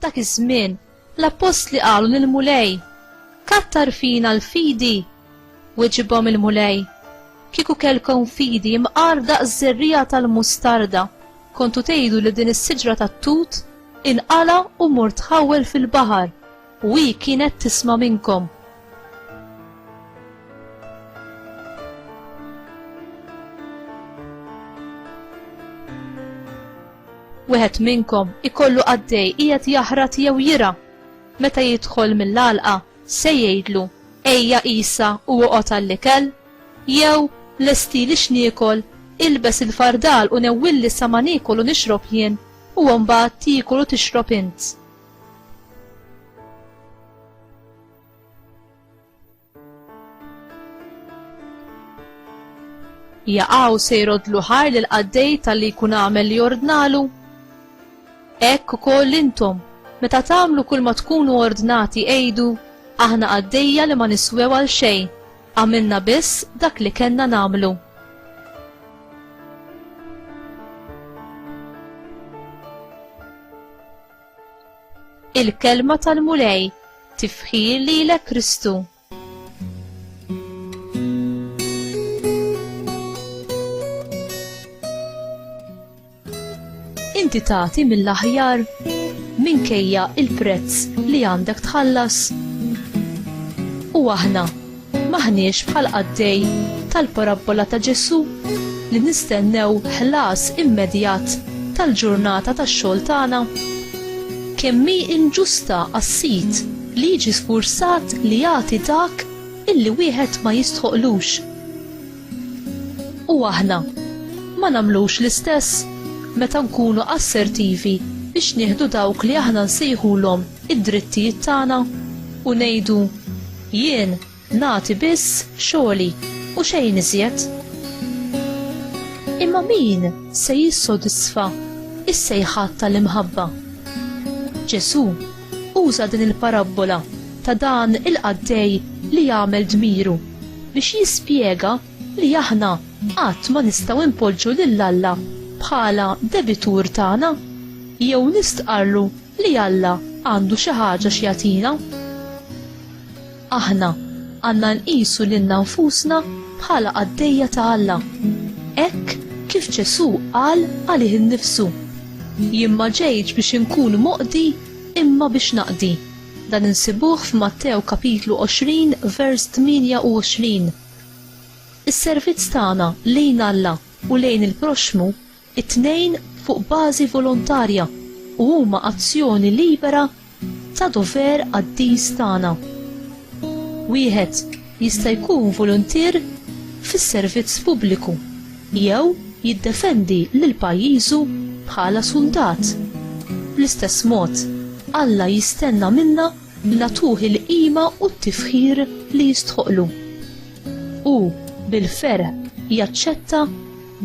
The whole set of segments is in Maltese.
dak iż-żmien l-appostli qalu lil mulej Kattar fina l-fidi Weġibhom il-mulej Kieku kelkom fidi mqar daq żerrija tal-mustarda kontu tgħidu li din is-siġra tat-tut inqala u mur tħawwel fil-baħar U hi kienet tisma' minnkom. Wieħed minnkom ikollu qaddej qiegħed jaħrat jew jira. Meta jidħol mill-għalqa se jgħidlu, Ejja qisha u oqgħod għall-ikel? Jew lestili x'niekol, ilbes il-fardal u newwilli sa ma niekol u nixrob jien, u mbagħad tiekol u tixrob int. jaqaw se jrodlu ħar l qaddej tal-li jkun għamel li ordnalu. Ekk ukoll intom, meta tagħmlu kull ma tkunu ordnati għejdu, aħna għaddejja li ma niswew għal xejn, għamilna biss dak li kellna nagħmlu. Il-kelma tal-Mulej tifħir lilek Kristu. inti tagħti mill-aħjar minkejja il-prezz li għandek tħallas. U aħna M'aħniex bħal qaddej tal-parabbola ta' Ġesù li nistennew ħlas immedjat tal-ġurnata tax-xogħol tagħna. Kemm hi inġusta għas-sid li jiġi sfurzat li jagħti dak illi wieħed ma jistħoqlux. U aħna ma nagħmlux l-istess meta nkunu assertivi biex nieħdu dawk li aħna nsejħulhom id-drittijiet tagħna u ngħidu jien nagħti biss xogħli u xejn iżjed. Imma min se jissodisfa is-sejħat tal-imħabba? Ġesù uża din il-parabbola ta' dan il-qaddej li jagħmel dmiru biex jispjega li aħna qatt ma nistgħu npoġġu lil Alla bħala debitur tagħna jew nistqarrlu li Alla għandu xi ħaġa x'jagħtina. Aħna għandna nqisu lilna nfusna bħala qaddejja ta' Alla, hekk kif Ġesù qal għalih innifsu, Jien ma ġejtx biex inkun moqdi imma biex naqdi. Dan insibuh f'Mattew kapitlu 20 vers 28. Is-servizz tagħna lejn Alla u lejn il-proxxmu, it-tnejn fuq bażi volontarja u huma azzjoni libera ta' dover qaddis tagħna. Wieħed jista' jkun voluntier fis-servizz pubbliku jew jiddefendi lil pajjiżu bħala suldat. Bl-istess mod, Alla jistenna minna li nagħtuh il-qima u t-tifħir li jistħoqqlu. Hu bil-ferħ jaċċetta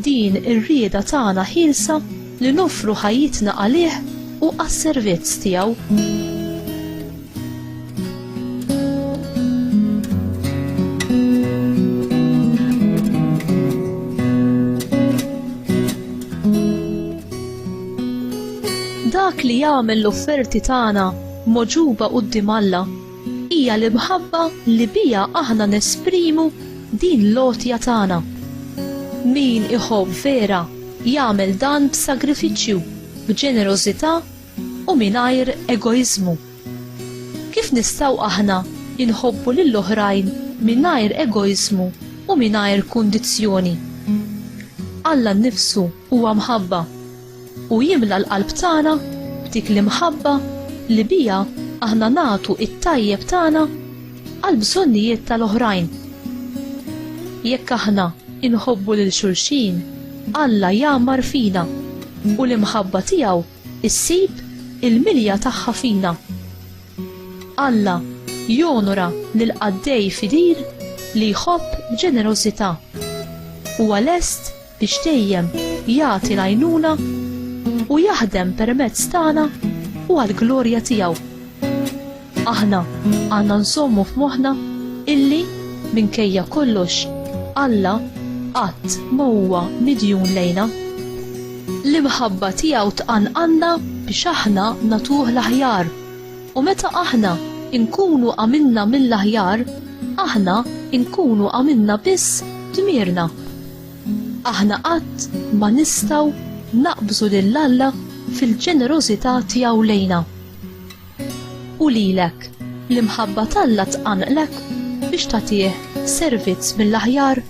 din ir-rieda tagħna ħielsa li noffru ħajjitna għalih u għas-servizz tiegħu. li jagħmel l-offerti tagħna mogħġuba quddiem Alla, hija l-imħabba li biha aħna nesprimu din l-għotja tagħna. Min iħobb vera jagħmel dan b'sagrifiċċju, b'ġenerożità u mingħajr egoiżmu. Kif nistgħu aħna nħobbu lil oħrajn mingħajr egoiżmu u mingħajr kundizzjoni? Alla nnifsu huwa mħabba. u jimla l-qalb tagħna b'dik l-imħabba li biha aħna nagħtu t-tajjeb tagħna għall-bżonnijiet tal-oħrajn. Jekk aħna inħobbu lil xulxin, Alla jgħammar fina u l-imħabba tiegħu ssib il-milja tagħha fina. Alla jonora lil qaddej fidil li jħobb b'ġenerożità. Huwa lest biex dejjem jagħti l-għajnuna u jaħdem permezz tagħna u għall-glorja tiegħu. Aħna għandna nżommu f'moħħna illi minkejja kollox Alla qatt ma huwa midjun lejna. L-imħabba tiegħu tqanqanna biex aħna natuh l-aħjar U meta aħna nkunu għamilna mill-aħjar, aħna nkunu għamilna biss dmirna. Aħna qatt ma nistgħu naqbżu lil Alla fil-ġenerożità tiegħu lejna. U lilek, l-imħabba t'Alla tqanqlek biex tagħtih servizz mill-aħjar?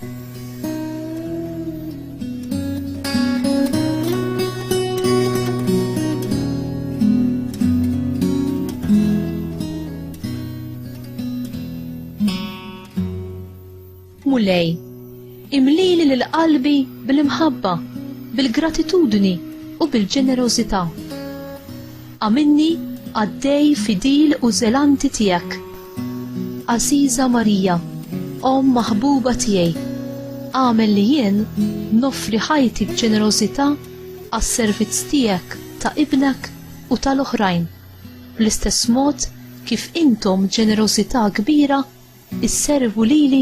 Mulej, imlili lil qalbi bil-imħabba, bil-gratitudni u bil-ġenerożità. Għamilni għaddej fidil u zelanti tiegħek Għażiża Marija, Omm maħbuba tiegħi, agħmel li jien noffri ħajti b'ġenerożità għas-servizz tiegħek ta' Ibnek u tal-oħrajn, bl-istess mod kif intom b'ġenerożità kbira sservu lili